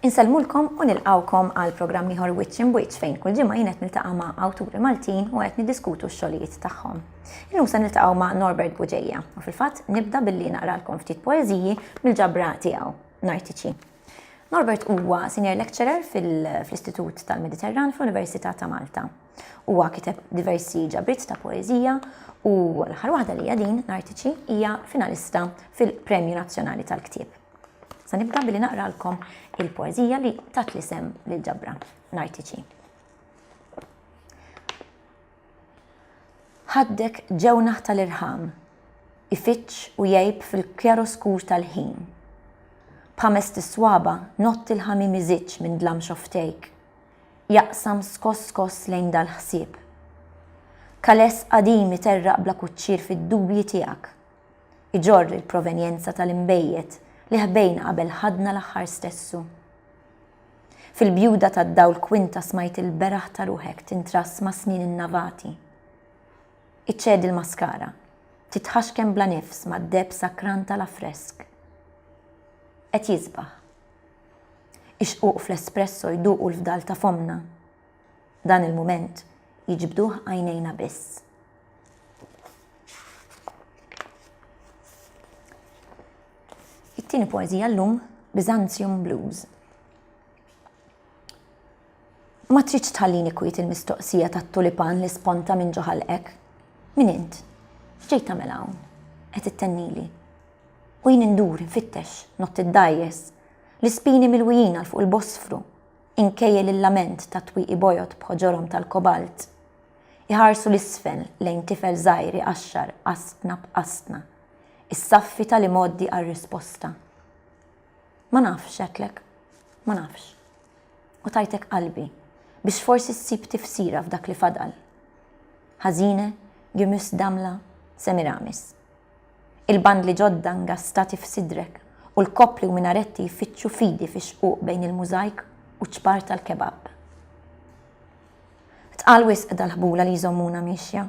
Insellmulkom u nilqawkom għal programm ieħor Wiċċ in Wiċċ fejn kull ġimgħa jien qed niltaqa' ma' awturi Maltin u qed niddiskutu x-xogħlijiet tagħhom. Illum se niltaqgħu ma' Norbert Buġeja u fil-fatt nibda billi naqralkom ftit poeżiji mill-ġabra tiegħu, Nartiċi. Norbert huwa Senior Lecturer fl-Istitut tal-Mediterran fl-Università ta' Malta. Huwa kiteb diversi ġabriet ta' poeżija u l-aħħar waħda li hija din, Nartiċi, hija finalista fil-Premju Nazzjonali tal-Ktieb. Sa nibda billi naqralkom il-poeżija li tat l-isem lill-ġabra, Nartiċi. Ħaddek ġewnaħ tal-irħam, ifiġġ u jgħib fil-kjaroskur tal-ħin. B'ħamest is-swaba' nott il-ħamiem iżiġġ minn dlam xofftejk, jaqsam skoss skoss lejn dal-ħsieb. Kaless qadim iterraq bla kuċċier fid-dubji tiegħek, iġorr il-provenjenza tal-inbejjed li ħbejna qabel ħadna l-aħħar stessu. Fil-bjuda tad-dawl kwinta smajt il-beraħ ta' ruħek tintrass mas-snien innavati. Iċċedi l-maskara. Titħaxken bla nifs mad-deheb sakran tal-affresk. Qed jisbaħ. Ix-xquq fl-espresso jduqu l-fdal ta' fommna. Dan il-mument jiġbduh għajnejna biss. It-tieni poeżija llum, Byzantium Blues. Ma tridx tħallini kwiet il-mistoqsija tat-tulipan li sponta minn ġo ħalqek. Min int? X'ġej tagħmel hawn? Qed ittennili. U jien indur, infittex, nott id-dgħajjes, l-ispini milwijin għal fuq il-Bosfru, inkejjel il-lament ta' twieqi bojod b'ħoġorhom tal-kobalt. Iħarsu l-isfel lejn tifel żgħir iqaxxar qasbna b'qasbna. Issaffi tal-imgħoddi għar-risposta. Ma nafx għedtlek, ma nafx. U tajtek qalbi biex forsi ssib tifsira f'dak li fadal. Ħażine Gymüs Damla Semiramis. Il-bandli ġodda ngastati f'sidrek u l-koppli u minaretti jfittxu fidi fix-xquq bejn il-mużajk u ċ-ċpar tal-kebab. Tqal wisq dal-ħbula li jżommuna miexja.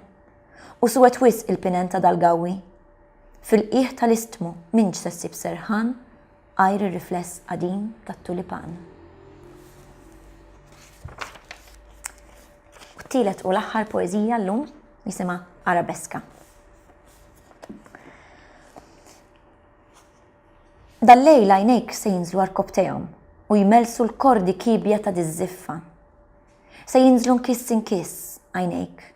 U suwed wisq il-pinend ta' dal-gawwi. Fil-qiegħ tal-istmu m'intx se ssib serħan għajr ir-rifless qadim tat-tulipan. U t-tielet u l-aħħar poeżija llum jisimha Arabeska. Dal-lejl għajnejk se jinżlu għarkobtejhom u jmelsu l-kordi kibja ta' diż-żiffa. Se jinżlu nkiss inkiss għajnejk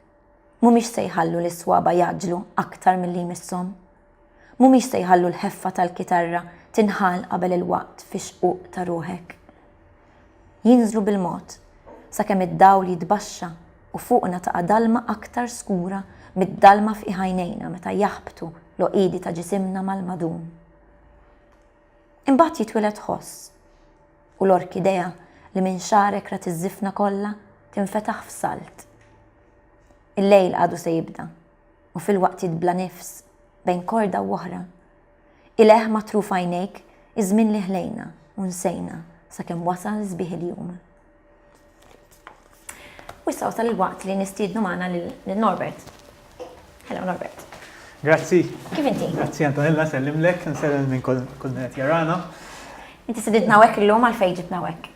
Mhumiex se jħallu lis-swaba' jgħaġġlu aktar milli jmisshom. Mhumiex se jħallu l-ħeffa tal-kitarra tinħal qabel il-waqt fix-xquq ta' ruħek. Jinżlu bil-mod, sakemm id-dawl jitbaxxa u fuqna taqa' dalma aktar skura mid-dalma f'qiegħ għajnejna meta jaħbtu l-għoqiedi ta' ġisimna mal-madum. Imbagħad jitwiled ħoss. U l-orkidea li minn xagħrek rat iż-żifna kollha tinfetaħ f'salt. Il-lejl għadu se jibda, u filwaqtiet bla nifs, bejn korda u oħra. Ileh matruf għajnejk iż-żmien li ħlejna u nsejna sakemm wasal sbieħ il-jum. U issa wasal il-waqt li nistiednu magħna lil Norbert. Hello Norbert. Grazzi. Kif inti? Grazzi Antonella, sellimlek, nsellem minn kull qed jarana. Inti sididna hekk illum għal fejn ġibna hekk.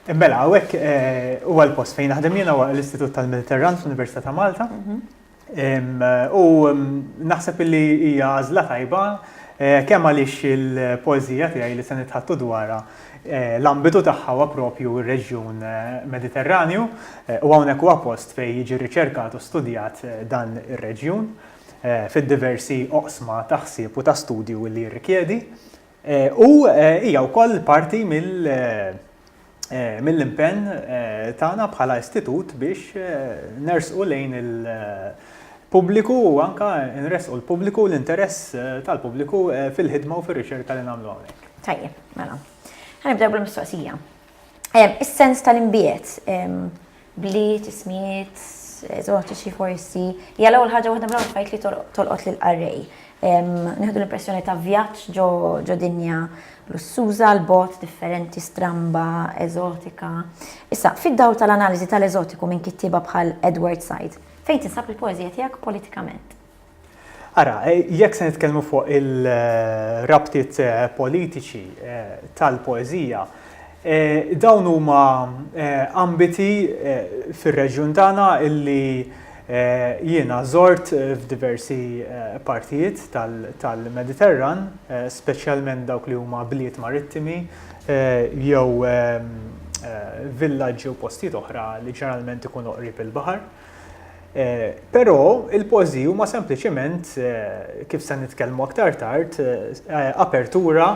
Eh, mela, hawnhekk eh, huwa l-post fejn naħdem jiena huwa l-Istitut tal-Mediterran fl-Università ta' Malta. Mhm. U naħseb illi hija għażla tajba kemm għaliex il-poeżija tiegħi li se nitħattu dwarha l-ambitu tagħha huwa proprju r-reġjun Mediterranju u hawnhekk huwa post fejn jiġi riċerkat u studjat dan ir-reġjun fid-diversi oqsma ta' ħsieb u ta' studju li jirrikjedi. U hija wkoll parti mill-impenn tagħna bħala istitut biex nersqu lejn il-pubbliku u anka nresqu l-pubbliku l-interess tal-pubbliku fil-ħidma u fir-riċerka li nagħmlu hawnhekk. Tajjeb, mela. Ħanibdew bil-mistoqsija. Is-sens tal-imbiet, bliet, ismijiet, eżotiċi forsi, hija l-ewwel ħaġa waħda mill-ewwel affarijiet li tolqot lill-qarrej. Nieħdu l-impressjoni ta' vjaġġ ġo dinja lussuża, l-bogħod, differenti, stramba, eżotika. Issa, fid-dawl tal-analiżi tal-eżotiku minn kittieba bħal Edward Said, fejn tinsab il-poeżija tiegħek politikament? Ara, jekk se nitkellmu fuq il-rabtiet politiċi tal-poeżija, dawn huma ambiti fir-reġjun tagħna li jiena żort f'diversi partijiet tal-Mediterran, speċjalment dawk li huma bliet marittimi jew villaġġi u postijiet oħra li ġeneralment ikunu qrib il-baħar. Eh, però il-pożi huma sempliċement, eh, kif se nitkellmu aktar tard, eh, apertura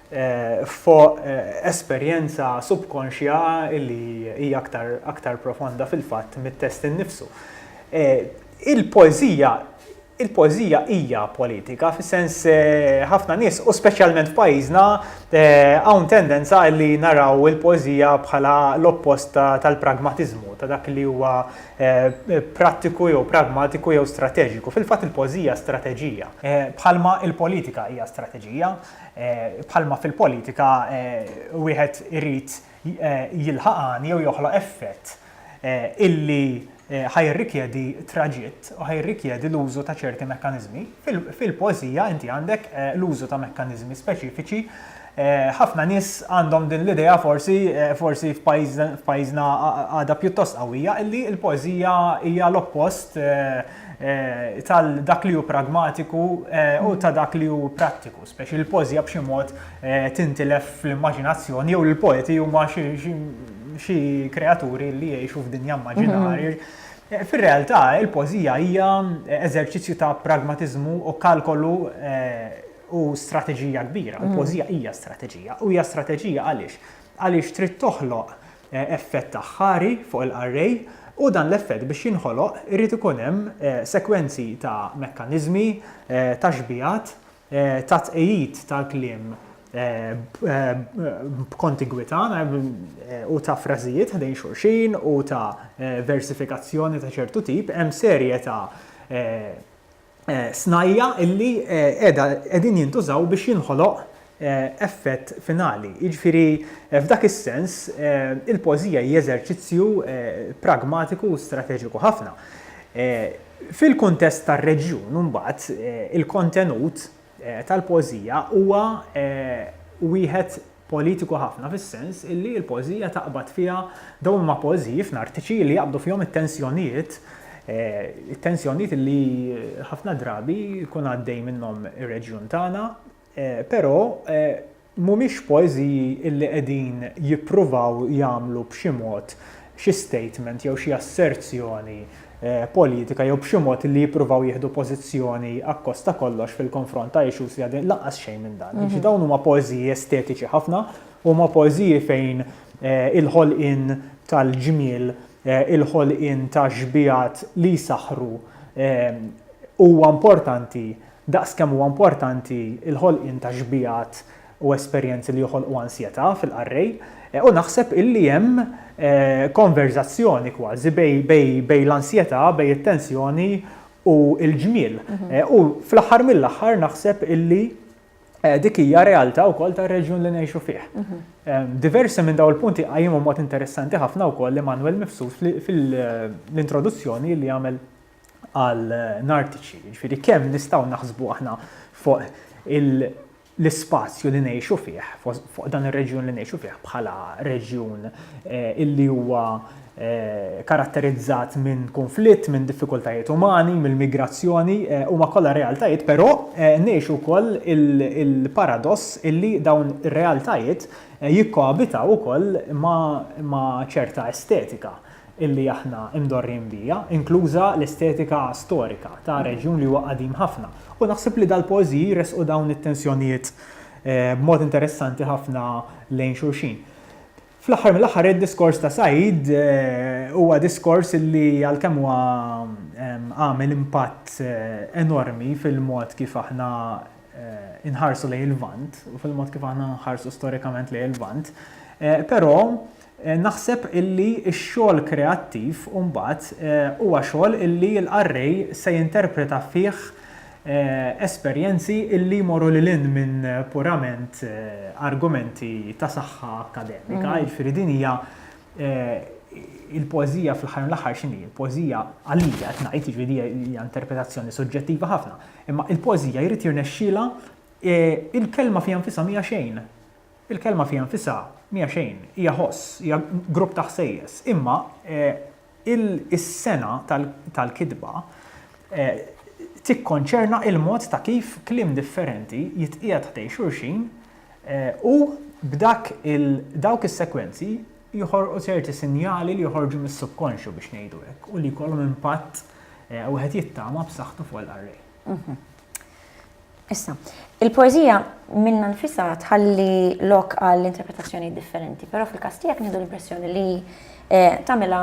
eh, fuq eh, esperjenza subkonxja li hija aktar, aktar profonda fil-fatt mit-test innifsu. Eh, il-poezija Il-poeżija hija politika fis-sens ħafna nies u speċjalment f'pajjiżna hawn tendenza li naraw il-poeżija bħala l-oppost tal-pragmatiżmu, ta' dak li huwa prattiku jew pragmatiku jew strateġiku. Fil-fatt il-poeżija hija strateġija. Bħalma l-politika hija strateġija, bħalma fil-politika wieħed irid jilħaq għan jew joħloq effett. illi ħa jirrikjedi traġitt u ħa jirrikjedi l-użu ta' ċerti mekkaniżmi. Fil-poeżija inti għandek l-użu ta' mekkaniżmi speċifiċi. Ħafna nies għandhom din l-idea forsi forsi f'pajjiżna għadha pjuttost qawwija illi l-poeżija hija l-oppost tal dak li hu pragmatiku u ta' dak li hu prattiku, speċi il-pożja b'xi mod tintilef fl-immaġinazzjoni jew il-poeti huma xi kreaturi li jgħixu f'dinja immaġinarja. Mhm. Fir-realtà, il-pożija hija eżerċizzju ta' pragmatiżmu u kalkolu u strateġija kbira. Mhm. Il-pożija hija strateġija u hija strateġija għaliex? Għaliex trid toħloq effett aħħari fuq il-qarrej u dan l-effett biex jinħoloq irid ikun hemm sekwenzi ta' mekkaniżmi, ta' xbigħat, ta' tqegħid tal-kliem b'kontigwità u ta' frażijiet ħdejn xulxin u ta' versifikazzjoni ta' ċertu tip, hemm serje ta' snajja' illi qiegħda qegħdin jintużaw biex jinħoloq effett finali. Jiġifieri f'dak is-sens il-poeżija hi eżerċizzju pragmatiku u strateġiku ħafna. Fil-kuntest tar-reġjun imbagħad il-kontenut tal-poeżija huwa wieħed politiku ħafna fis-sens illi l-poeżija taqbad fiha dawn huma poeżiji fnartiċi li jaqbdu fihom it-tensjonijiet, it-tensjonijiet illi ħafna drabi jkun għaddej minnhom ir-reġjun tagħna, però mhumiex poeżiji illi qegħdin jippruvaw jagħmlu b'xi mod xi statement jew xi asserzjoni politika jew b'xi mod li jippruvaw jieħdu pożizzjoni akkost ta' kollox fil-konfront ta' issues li għaddejjin, lanqas xejn minn dan. Jiġifieri dawn huma poeżiji estetiċi ħafna, huma poeżiji fejn il-ħolqien tal-ġmiel, il-ħolqien ta' xbigħat li jsaħħru huwa importanti daqs kemm huwa importanti l-ħolqien ta' xbigħat u esperjenzi li joħolqu ansjetà fil-qarrej u naħseb illi hemm konverżazzjoni kważi bejn l-ansjetà, bejn it-tensjoni u l-ġmiel. U fl-aħħar mill-aħħar naħseb illi dik hija realtà wkoll tar-reġjun li ngħixu fih. Diversi minn dawn il-punti qajjimhom b'mod interessanti ħafna wkoll Emmanuel Mifsud fil-introduzzjoni li għamel għal Nartici. Jiġifieri kemm nistgħu naħsbu aħna fuq il- l-ispazju li ngħixu fih, fuq dan ir-reġjun li ngħixu fih bħala reġjun illi huwa karatterizzat minn kunflitt, minn diffikultajiet umani, mill-migrazzjoni, huma kollha realtajiet, però ngħixu wkoll il-paradoss illi dawn ir-realtajiet jikkoabitaw ukoll ma' ċerta estetika, illi aħna imdorrijin biha, inkluża l-estetika storika ta' reġjun li huwa qadim ħafna. U naħseb li dal-poeżiji jressqu dawn it-tensjonijiet b'mod interessanti ħafna lejn xulxin. Fl-aħħar mill-aħħar id-diskors ta' Said huwa diskors illi għalkemm huwa għamel impatt enormi fil-mod kif aħna inħarsu lejn il-Lvant u fil-mod kif aħna nħarsu storikament lejn il-Lvant, però Naħseb illi x-xogħol kreattiv mbagħad huwa xogħol illi l-qarrej se jinterpreta fih esperjenzi illi jmorru lil hinn minn purament argumenti ta' saħħa akkademika, jiġifieri din hija il-poeżija fl-aħħar mill-aħħar x'inhi? Il-poeżija, għalija qed ngħid, jiġifieri hija hija interpretazzjoni suġġettiva ħafna, imma il-poeżija jrid jirnexxielha il-kelma fiha nfisha mhija xejn. Il-kelma fiha nfisha mija xejn, hija ħoss, hija grupp ta' ħsejjes. Imma is-sengħa tal-kitba tikkonċerna l-mod ta' kif kliem differenti jitqiegħed ħdejn xulxin u b'dak dawk is-sekwenzi joħolqu ċerti sinjali li joħorġu mis-subkonxju biex ngħidu hekk u li jkollhom impatt wieħed jittama b'saħħtu fuq il-qarrej. Issa, il-poeżija minnha nfisha tħalli lok għal interpretazzjoni differenti, però fil-każ tiegħek nieħdu l-impressjoni li eh, tagħmilha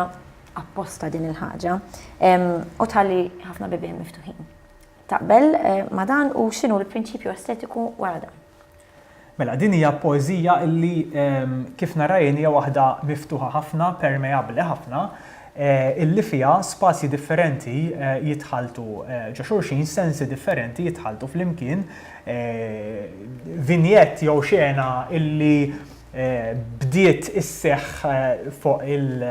apposta din il-ħaġa u tħalli ħafna bibien miftuħin. Taqbel eh, ma dan u x'inhu l-prinċipju estetiku wara dan? Mela, din hija poeżija li kif narajn hija waħda miftuħa ħafna, permeabbli ħafna, illi fiha spazji differenti jitħalltu ġo xulxin, sensi differenti jitħalltu flimkien, vignette jew xena illi bdiet isseħħ fuq il-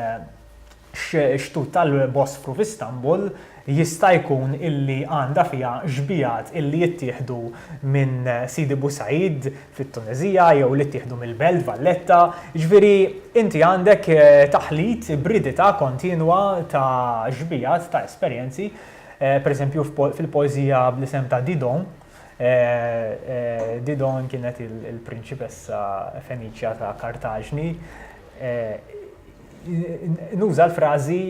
x-xtut tal-Bosfru f'Istanbul jista' jkun illi għandha fiha xbigħat illi jittieħdu minn Sidi Bou Said fit-Tuneżija jew li ttieħdu mill-Belt Valletta. Jiġifieri inti għandek taħlit, ibridità kontinwa ta' xbigħat, ta' esperjenzi. Pereżempju fil-poeżija bl-isem ta' Didon, Didon kienet il-prinċipessa Feniċja ta' Kartaġni, nuża l-frażi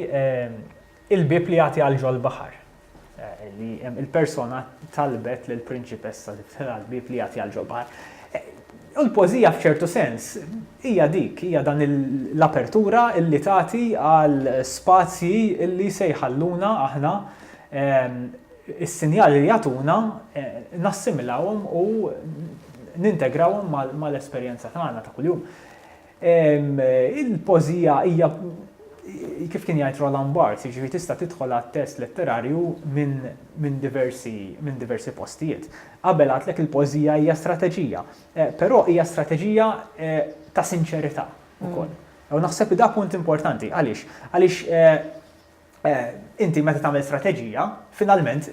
il-bieb li jagħti għal ġol baħar eh, li il-persona talbet l prinċipessa li ftela l-bib li jagħti għal ġol baħar. Eh, u l-pożija f'ċertu sens hija dik, hija dan l-apertura illi tagħti għal spazji illi se jħalluna aħna ehm, is-sinjali li jagħtuna eh, nassimilawhom u nintegrawhom mal-esperjenza tagħna ta' kuljum. Il-pożija hija, kif kien jgħid Roland Barthes, jiġifieri tista' tidħol għat-test letterarju minn diversi postijiet. Qabel għidtlek il-pożija hija strateġija, però hija strateġija ta' sinċerità wkoll. U naħseb li da punt importanti. Għaliex? Għaliex inti meta tagħmel strateġija, finalment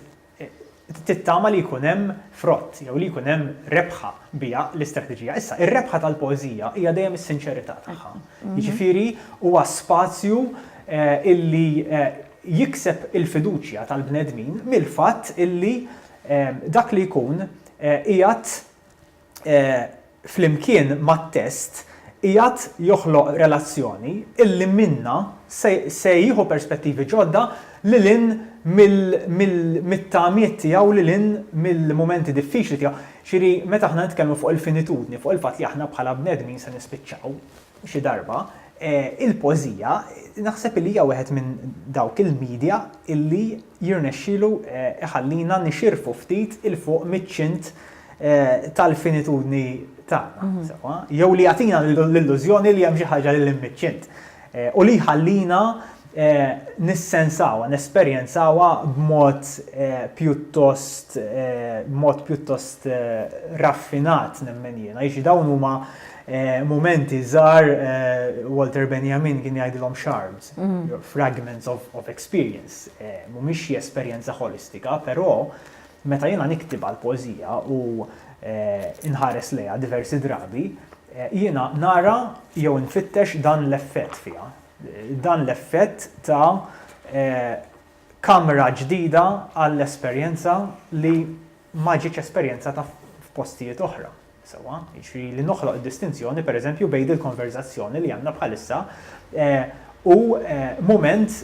tittama li jkun hemm frott jew li jkun hemm rebħa biha l-istrateġija. Issa, ir-rebħa tal-poeżija hija dejjem is-sinċerità tagħha. Jiġifieri huwa spazju illi jikseb il-fiduċja tal-bnedmin mill-fatt illi dak li jkun qiegħed flimkien mat-test, qiegħed joħloq relazzjoni illi minnha se jieħu perspettivi ġodda lil hinn mit-tamiet tiegħu, lil hinn mill-mumenti diffiċli tiegħu. Jiġifieri meta aħna nitkellmu fuq il-finitudni, fuq il-fatt li aħna bħala bnedmin se nispiċċaw, xi darba, il-poeżija naħseb li hija wieħed minn dawk il-media li jirnexxilu jħallina nixirfu ftit 'il fuq miċ-ċint tal-finitudni tagħna, sewwa, jew li jagħtina l-illużjoni li hemm xi ħaġa lil hinn miċ-ċint u li jħallina nissensawha, nesperjenzawha b'mod pjuttost b'mod pjuttost raffinat nemmen jiena. Jiġifieri dawn huma mumenti żgħar Walter Benjamin kien jgħidilhom shards, fragments of of experience, mhumiex xi esperjenza ħolistika, però meta jiena niktib għall-poeżija u nħares lejha diversi drabi, jiena nara jew infittex dan l-effett fiha. Dan l-effett ta kamra ġdida għal esperjenza li ma ġietx esperjenzata f'postijiet oħra, sewwa? Jiġifieri li noħloq id-distinzjoni pereżempju bejn dil-konverżazzjoni li għandna bħalissa u mument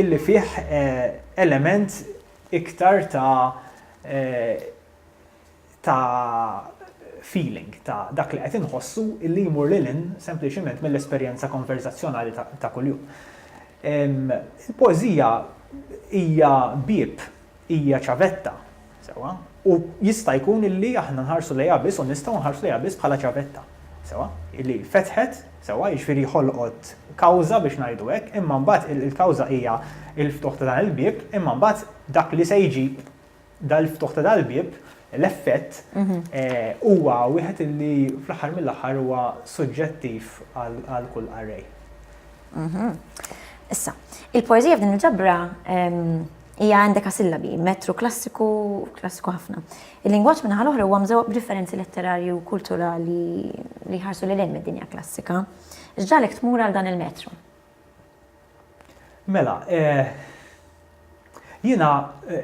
illi fih element iktar ta ta' feeling, ta' dak li qed inħossu li jmur lil hinn sempliċement mill-esperjenza konverżazzjonali ta' kuljum. Il-poeżija hija bieb, hija ċavetta, sewwa, u jista' jkun illi aħna nħarsu lejha biss u nistgħu nħarsu lejha biss bħala ċavetta, sewwa, illi fetħet, sewwa, jiġifieri ħolqot kawża biex ngħidu hekk, imma mbagħad il-kawża hija l-ftuħ ta' dan il-bieb, imma mbagħad dak li se jiġi Dal-ftuħ ta' dal-bieb, l-effett, huwa wieħed li fl-aħħar mill-aħħar huwa suġġettiv għal kull qarrej. Issa, il-poeżija f'din il-ġabra hija għandek sillabi, metru klassiku, klassiku ħafna. Il-lingwaġġ minn ħal oħra huwa mżewwaq b'differenzi letterarji u kulturali li ħarsu lil hinn mid-dinja klassika. X'ġalek tmur għal dan il-metru? Mela, jiena,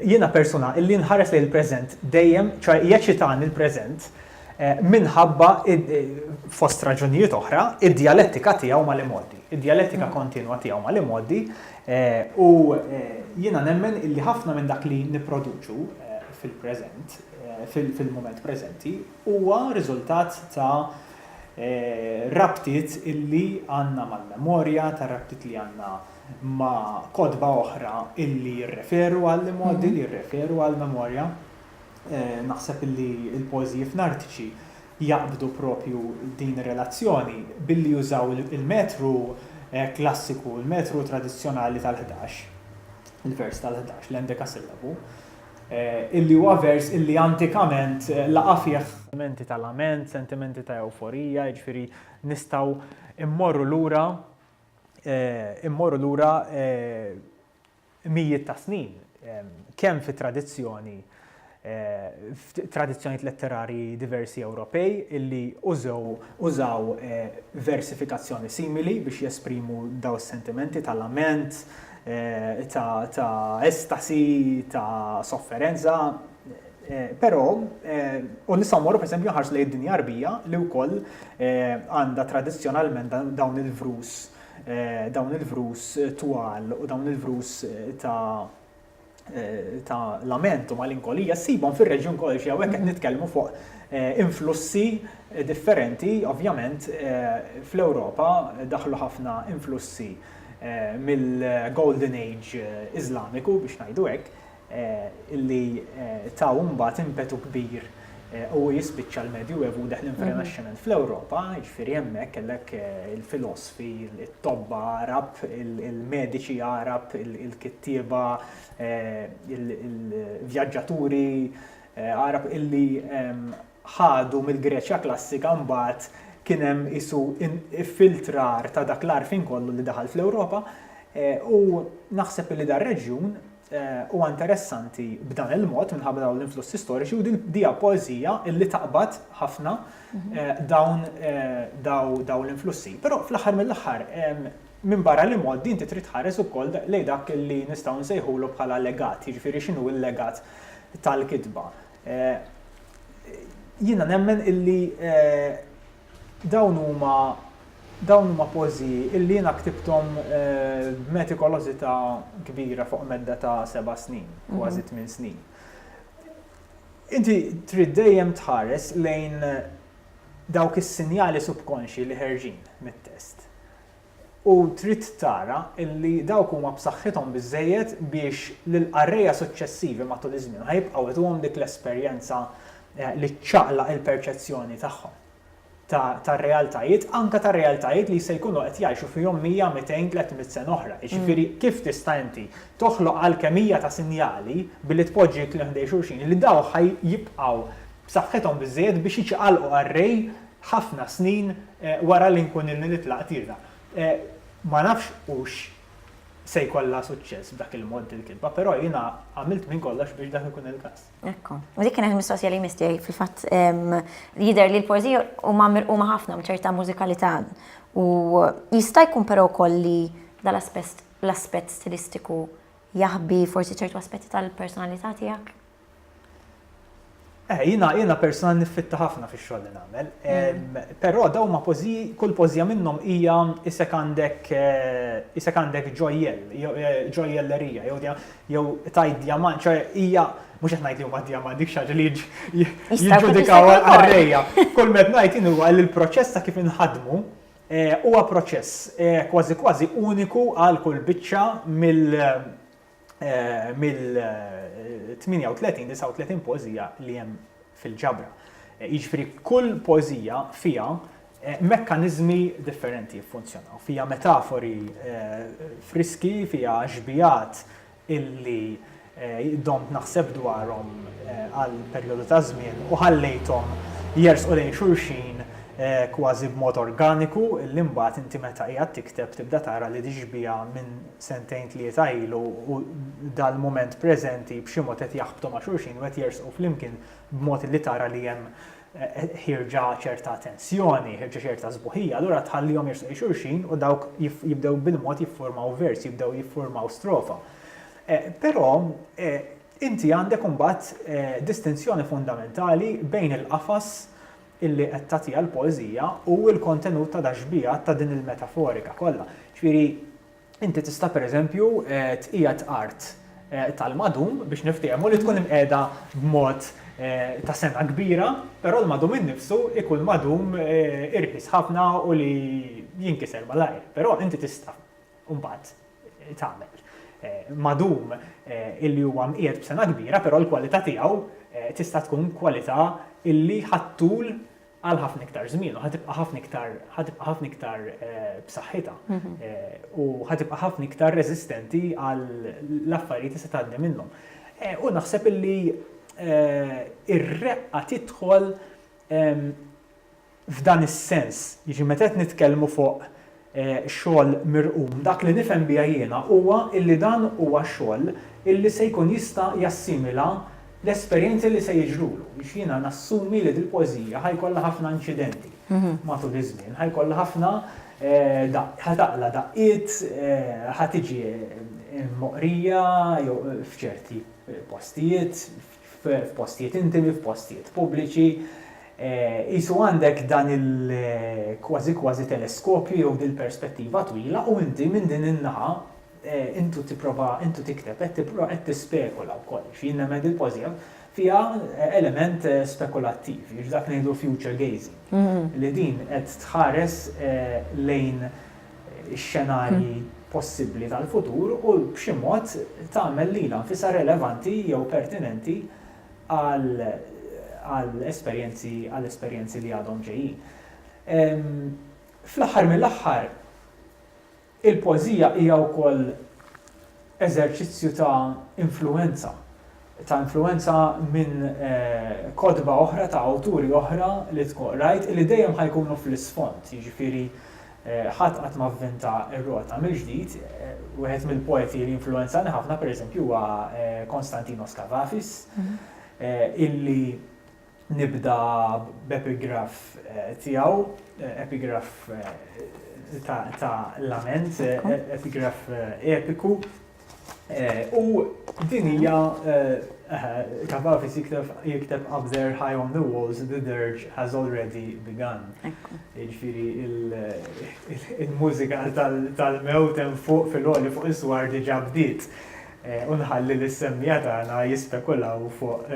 jiena persuna illi nħares lejn il-preżent dejjem, ċoe jeċitani l-preżent minħabba, fost raġunijiet oħra, id-djalettika tiegħu mal-imgħoddi, id-djalettika kontinwa tiegħu mal-imgħoddi u jiena nemmen illi ħafna minn dak li nipproduċu fil-preżent, fil-mument preżenti, Huwa riżultat ta' rabtiet illi għandna mal-memorja, ta' rabtiet li għandna ma' kotba oħra illi jirreferu għall-imgħoddi, li jirreferu għall-memorja. Naħseb illi l-poeżiji f'Nartiċi jaqbdu proprju din ir-relazzjoni billi jużaw il-metru klassiku, il-metru tradizzjonali tal-ħdax, il-vers tal-ħdax, l-endekasillabu. illi huwa vers illi antikament laqa' fih sentimenti ta' lament, sentimenti ta' ewforija, jiġifieri nistgħu mmorru lura mmorru lura mijiet ta' snin kemm fit-tradizzjoni f'tradizzjonijiet letterarji diversi Ewropej illi użew użaw versifikazzjoni simili biex jesprimu dawn is-sentimenti ta' lament, ta' estasi, ta' sofferenza, però u nistgħu mmorru pereżempju nħarsu lejn id-dinja Għarbija li wkoll għandha tradizzjonalment dawn il-vrus dawn il-vrus twal u dawn il-vrus ta' ta' lament u malinkolija ssibhom fir-reġjun kollu xi hawnhekk qed nitkellmu fuq eh, influssi differenti, ovvjament eh, fl-Ewropa daħlu ħafna influssi eh, mill-Golden Age Iżlamiku biex ngħidu hekk, illi taw mbagħad impetu kbir u jispiċċa l-Medjuevu deħlin fir-Renaxximent. Fl-Ewropa, jiġifieri hemmhekk kellek eh, il-filosfi, it-tobba Arab, il-mediċi Arab, il-kittieba, eh, il-vjaġġaturi eh, Arab illi ehm, ħadu mill-Greċja klassika mbagħad kien hemm isu filtrar ta' dak l-arfin kollu li daħal fl-Ewropa u naħseb li dar reġjun Huwa interessanti b'dan il-mod minħabba dawn l-influssi storiċi u din dija poeżija illi taqbad ħafna mhm. dawn daw l-influssi. Però fl-aħħar mill-aħħar minn barra li mod din titrid ħares ukoll lejn dak li nistgħu nsejħulu bħala legat, jiġifieri x'inhu l-legat tal-kitba. Eh, jiena nemmen illi eh, Dawn huma dawn huma poeżiji illi jiena ktibthom b'metikolożità kbira fuq medda ta' seba' snin, kważi tmien snin. Inti trid dejjem tħares lejn dawk is-sinjali subkonxji li ħerġin mit-test. u trid tara li dawk huma b'saħħithom biżżejjed biex lill-qarrejja suċċessivi matul iż-żmien ħa jibqgħu ituhom dik l-esperjenza li ċċaqlaq il-perċezzjoni tagħhom ta' tar-realtajiet, anke ta' realtajiet li se jkunu qed jgħixu fihom mija, mitejn, tliet mitt sena oħra. Jiġifieri kif tista' inti toħloq alkemija ta' sinjali billi tpoġġi l-kliem ħdej xulxin li dawk ħa jibqgħu b'saħħithom biżżejjed biex jiċqalqu qarrej ħafna snin wara li nkun ilni nitlaq tira. Ma nafx hux se jkollha suċċess b'dak il-mod dil-kitba, però jiena għamilt minn kollox biex dak ikun il-każ. Ekku. Dik kienet il-mistoqsija li jmiss tiegħi. Fil-fatt, jidher li l-poeżiji huma mirquma ħafna b'ċerta mużikalità u jista' jkun però wkoll li dal-aspett l-aspett stilistiku jaħbi forsi ċertu aspetti tal-personalità tiegħek? Eh, jina, jina persona niffitta ħafna fi xogħol li nagħmel. Mm. Però daw ma pożi, kull pożija minnhom hija isek għandek eh, isek għandek ġojjel, eh, ġojjellerija, jew jew tajt djamant, ċoħe hija mhux qed ngħid li huma djamant dik xaġa li jiġġudikaw għarrejja. Kull met ngħid inhu għal il-proċess ta' kif inħadmu huwa proċess kważi kważi uniku għal kull biċċa mill mill-38, 39 poeżija li hemm fil-ġabra. Jiġifieri kull poeżija fiha mekkaniżmi differenti jiffunzjonaw, fiha metafori friski, fiha xbigħat illi domt naħseb dwarhom għal perjodu ta' żmien u ħallejthom jersqu lejn xulxin kważi b'mod organiku illi mbagħad inti meta qiegħed tikteb tibda tara li dixbiha minn sentejn tlieta ilu u dal-mument preżenti b'xi mod qed jaħbtu ma' xulxin u qed jersqu flimkien b'mod li tara li hemm ħierġa ċerta tensjoni, ħierġa ċerta sbuħija, allura tħallihom jersqu lejn xulxin u dawk jibdew bil-mod jiffurmaw vers, jibdew jiffurmaw strofa. Però inti għandek imbagħad distinzjoni fundamentali bejn il-qafas illi qed tagħtiha l-poeżija hu l-kontenut ta' dax-xbiehat ta' din il-metaforika kollha. Ġifieri, inti tista' pereżempju tqiegħed art tal-madum, biex niftiehmu, li tkun imqiegħda b'mod ta' sengħa kbira, però l-madum innifsu jkun madum irħis ħafna u li jinkiser malajr. Però inti tista'. u mbagħad tagħmel madum illi huwa mqiegħed b'sengħa kbira però l-kwalità tiegħu tista' tkun kwalità illi ħa ttul għal ħafna iktar żmien u ħa tibqa' ħafna iktar ħa tibqa' ħafna iktar b'saħħitha u ħa tibqa' ħafna iktar reżistenti għal affarijiet li se tgħaddi minnhom. U naħseb illi ir-reqqa tidħol f'dan is-sens, jiġifieri meta qed nitkellmu fuq xogħol mirqum, dak li nifhem biha jiena huwa illi dan huwa xogħol illi se jkun jista' jassimila l-esperjenzi li se jiġrulu. Għax jiena nassumi li dil-poeżija ħa jkollha ħafna inċidenti matul iż-żmien, ħa jkollha ħafna ħa taqla' daqqiet, ħa tiġi mqrija jew f'ċerti postijiet, f'postijiet intimi, f'postijiet pubbliċi, qisu għandek dan il-kważi kważi teleskopju jew dil-perspettiva twila u inti minn din in-naħa intu tipprova intu tikteb qed tipprova qed tispekula wkoll. Xi jien nemmen dil-pożija fiha element spekulattiv, jiġifieri dak ngħidu future gazing. Li din qed tħares lejn ix-xenarji possibbli tal-futur u b'xi mod tagħmel lilha nfisha relevanti jew pertinenti għall-esperjenzi li għadhom ġejjin. Fl-aħħar mill-aħħar, il-poeżija hija wkoll eżerċizzju ta' influwenza. ta' influwenza minn kotba oħra ta' awturi oħra li tkun qrajt li dejjem ħa jkunu fl-isfond, jiġifieri ħadd qatt ma vvinta r-rota mill-ġdid, wieħed mill-poeti li influwenzani ħafna pereżempju huwa Konstantinos Kavafis illi, Nibda b'epigraff tiegħu, epigraff ta' lament, epigraff epiku. U din hija Kavafis jikteb up there high on the walls the dirge has already begun. Jiġifieri il-mużika tal-mewt hemm fuq fil-għoli fuq is-swar diġà bdiet. u nħalli lis-semmiegħa tagħna jispekulaw fuq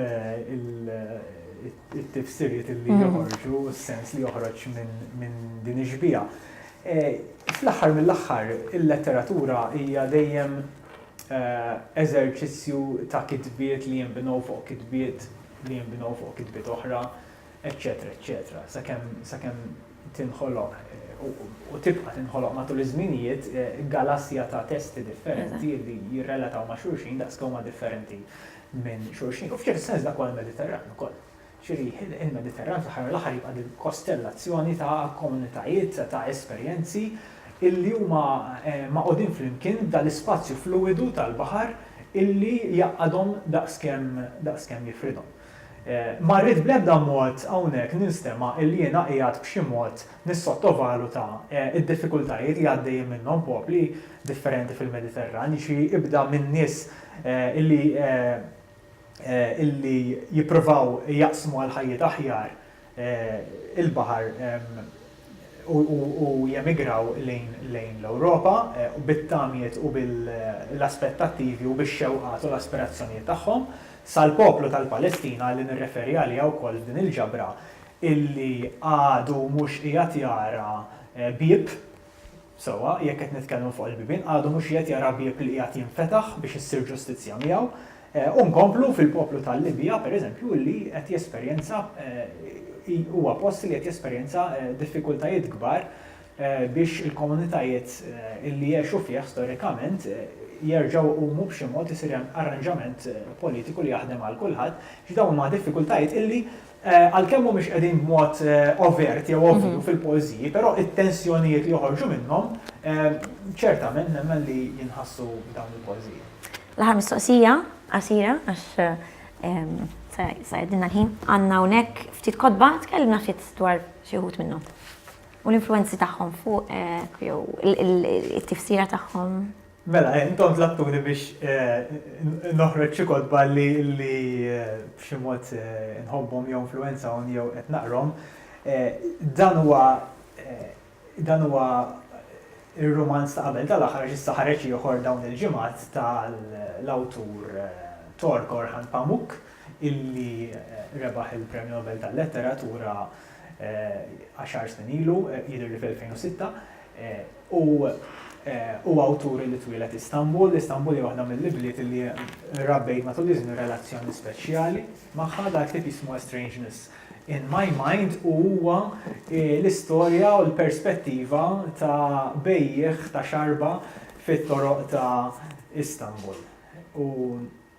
it-tifsiriet li joħorġu u s-sens li joħroġ minn din ix-xbieha. Fl-aħħar mill-aħħar, il-letteratura hija dejjem eżerċizzju ta' kitbiet li jinbnew fuq kitbiet li jinbnew fuq kitbiet oħra, eċċetera eċċetera sakemm sakemm tinħoloq u tibqa' tinħoloq matul iż-żminijiet galassja ta' testi differenti li jirrelataw ma' xulxin daqs kemm huma differenti minn xulxin. U f'ċertu sens dak huwa l-Mediterran ukoll. Ġifieri il-Mediterran fl-aħħar mill-aħħar jibqa' din il-kostellazzjoni ta' komunitajiet ta' esperjenzi illi huma magħqudin flimkien f'dal-ispazju fluwidu tal-baħar illi jgħaqqadhom daqs kemm daqs kemm jifridhom. Ma rrid bl-ebda mod hawnhekk ninstema' illi jiena qiegħed b'xi mod nissottovaluta d-diffikultajiet li għaddejjin minnhom popli differenti fil-Mediterran, jiġifieri ibda minn nies illi illi jippruvaw jaqsmu għal ħajjiet aħjar, il-baħar u jemigraw lejn l-Ewropa bit-tamiet u bil-aspettattivi u bix-xewqat u l-aspirazzjonijiet tagħhom, sal-poplu tal-Palestina li nirreferi għaliha wkoll f'din il-ġabra illi għadu mhux qiegħed jara bieb Sewwa, jekk qed nitkellmu fuq il-bibien, għadu mhux qiegħed jara bieb li qiegħed jinfetaħ biex issir ġustizzja miegħu, u nkomplu fil-poplu tal-Libja, pereżempju, li qed jesperjenza, huwa post li qed jesperjenza diffikultajiet kbar biex il-komunitajiet li għexu fih storikament jerġgħu jqumu b'xi mod isir hemm arranġament politiku li jaħdem għal kulħadd, x'dawn huma diffikultajiet li Għalkemm mhumiex qegħdin b'mod overt jew ovvju fil-poeżiji, però t-tensjonijiet li joħorġu minnhom ċertament nemmen li jinħassu f'dawn il-poeżiji. L-aħħar mistoqsija, qasira, għax se jgħaddilna l-ħin, għandna hawnhekk ftit kotba, tkellimna ftit dwar xi wħud minnhom u l-influwenzi tagħhom fuqek jew it-tifsira tagħhom. Mela, intom tlabtuni biex noħroġ xi kotba li b'xi mod inħobbhom jew influwenzawni jew qed naqrhom. Dan huwa dan huwa r-rumanz ta' qabel tal-aħħar għax issa ħareġ ieħor dawn il-ġimgħat tal-awtur Tork Orhan Pamuk illi rebaħ il-Premju Nobel tal-Letteratura għaxar snin ilu, jidhirli fl-2006. Hu huwa awtur li twieled Istanbul. Istanbul hija waħda mill-ibliet li rrabbejt matul iż-żmien relazzjoni speċjali magħha. Dal-ktieb jismu A Strangeness in My Mind u huwa l-istorja u l-perspettiva ta' bejjiegħ ta' xarba fit-toroq ta' Istanbul. U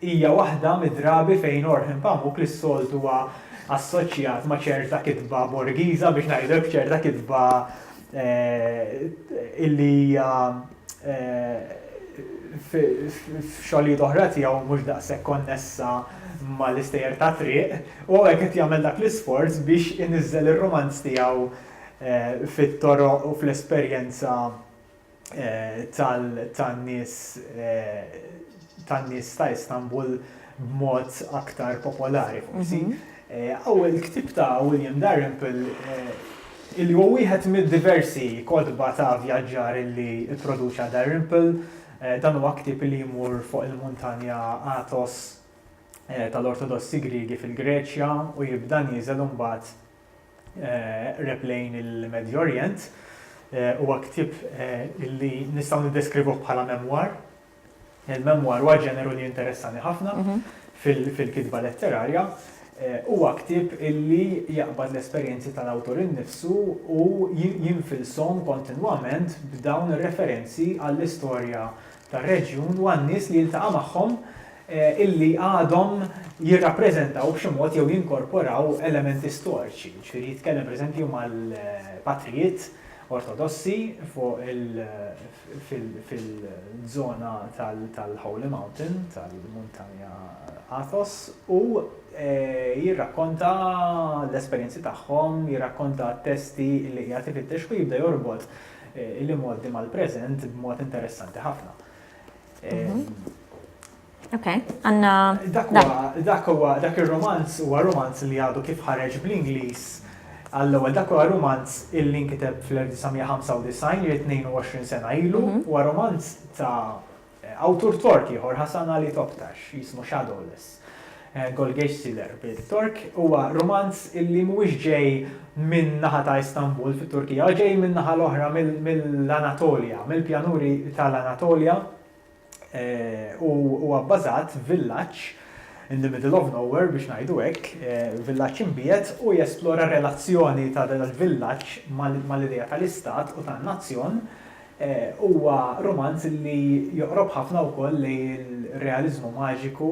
hija waħda mid-drabi fejn Orhan Pamuk li s-soltu huwa assoċjat ma' ċerta kitba Borgiża biex ngħidu hekk, ċerta kitba illi hija f'xogħlijiet oħra tiegħu mhux daqshekk konnessa mal-istejjer tat-triq, u hawnhekk qed jagħmel dak l-isforz biex iniżżel ir-rumanz tiegħu fit-toroq u fl-esperjenza tan-nies tan-nies ta' Istanbul b'mod aktar popolari forsi. Hawn il-ktieb ta' William Dalrymple illi huwa wieħed mid-diversi kotba ta' vjaġġar illi pproduċa Dalrymple. Dan huwa ktieb li jmur fuq il-muntanja Athos tal-Ortodossi Griegi fil-Greċja u jibda nieżel imbagħad qreb lejn il-Medju Orjent. Huwa ktieb li nistgħu niddeskrivuh bħala memwar. Il-memwar huwa ġeneru li jinteressani ħafna fil-kitba letterarja. Huwa ktieb li jaqbad l-esperjenzi tal-awtur innifsu u jinfilshom kontinwament b'dawn ir-referenzi għall-istorja tar-reġjun u għan-nies li jiltaqa' magħhom illi għadhom jirrappreżentaw b'xi mod jew jinkorporaw elementi storiċi, jiġifieri jitkellem pereżempju mal-patrijiet Ortodossi fuq il fil-żona tal-Holy Mountain, tal-Muntanja Athos u jirrakkonta l-esperjenzi tagħhom, jirrakkonta t-testi li qiegħed ifittex u jibda jorbot Il-imgħoddi mal-preżent b'mod interessanti ħafna. Ok, għanna. Dak huwa dak ir-romanz huwa romanz li għadu kif ħareġ bl-Ingliż għall-ewwel dak huwa romanz illi nkiteb fl-1995 li 22 sena ilu huwa romanz ta' Awtur Tork ieħor, Hasan Ali Toptash, jismu Shadowless, Golgesh Siler bit-Tork, huwa rumanz illi mhuwiex ġej min-naħa ta' Istanbul fit-Turkija, huwa ġej min-naħa l-oħra mill-Anatolja, mill-pjanuri tal-Anatolja u huwa bbażat f'villaġġ in the middle of nowhere biex ngħidu hekk, villaġġ imbiegħed u jesplora r-relazzjoni ta' dal-villaġġ mal-idea tal-istat u tan-nazzjon, Huwa rumanz li joqrob ħafna wkoll lejn ir-realiżmu maġiku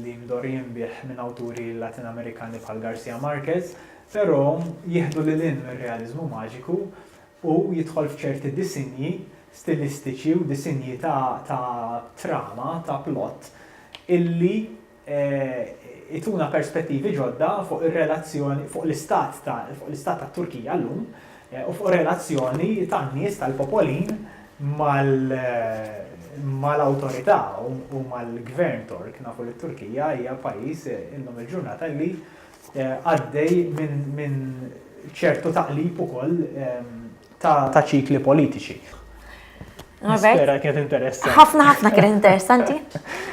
li mdorr jinbiegħ minn awturi Latin-Amerikani bħal Garcia Marquez, però jieħdu lil hinn mir-realiżmu maġiku u jidħol f'ċerti disinji stilistiċi u disinji ta' trama, ta' plott, illi jtuna perspettivi ġodda fuq ir-relazzjoni, fuq l-istat ta' fuq l-istat tat-Turkija llum u fuq ir-relazzjoni tan-nies tal-popolin mal mal-awtorità u mal-Gvern Tork. Nafu li t-Turkija hija pajjiż illum il-ġurnata li għaddej minn minn ċertu taqlib ukoll ta' ċikli politiċi. Nispera kienet interessanti. Ħafna ħafna kienet interessanti.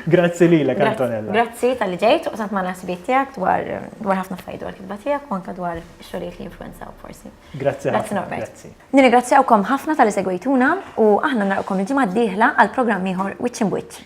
Grazzi li l Antonella. Grazzi tal-li ġejt, u sant ma nasbiet tijak dwar ħafna fajdu għal kitba tijak, u anka dwar xoliet li influenzaw forsi. Grazzi ħafna. Grazzi. Nirigrazzjawkom ħafna tal-li segwejtuna u aħna narqom il-ġimgħa d-dieħla għal programm ieħor Witch in Witch.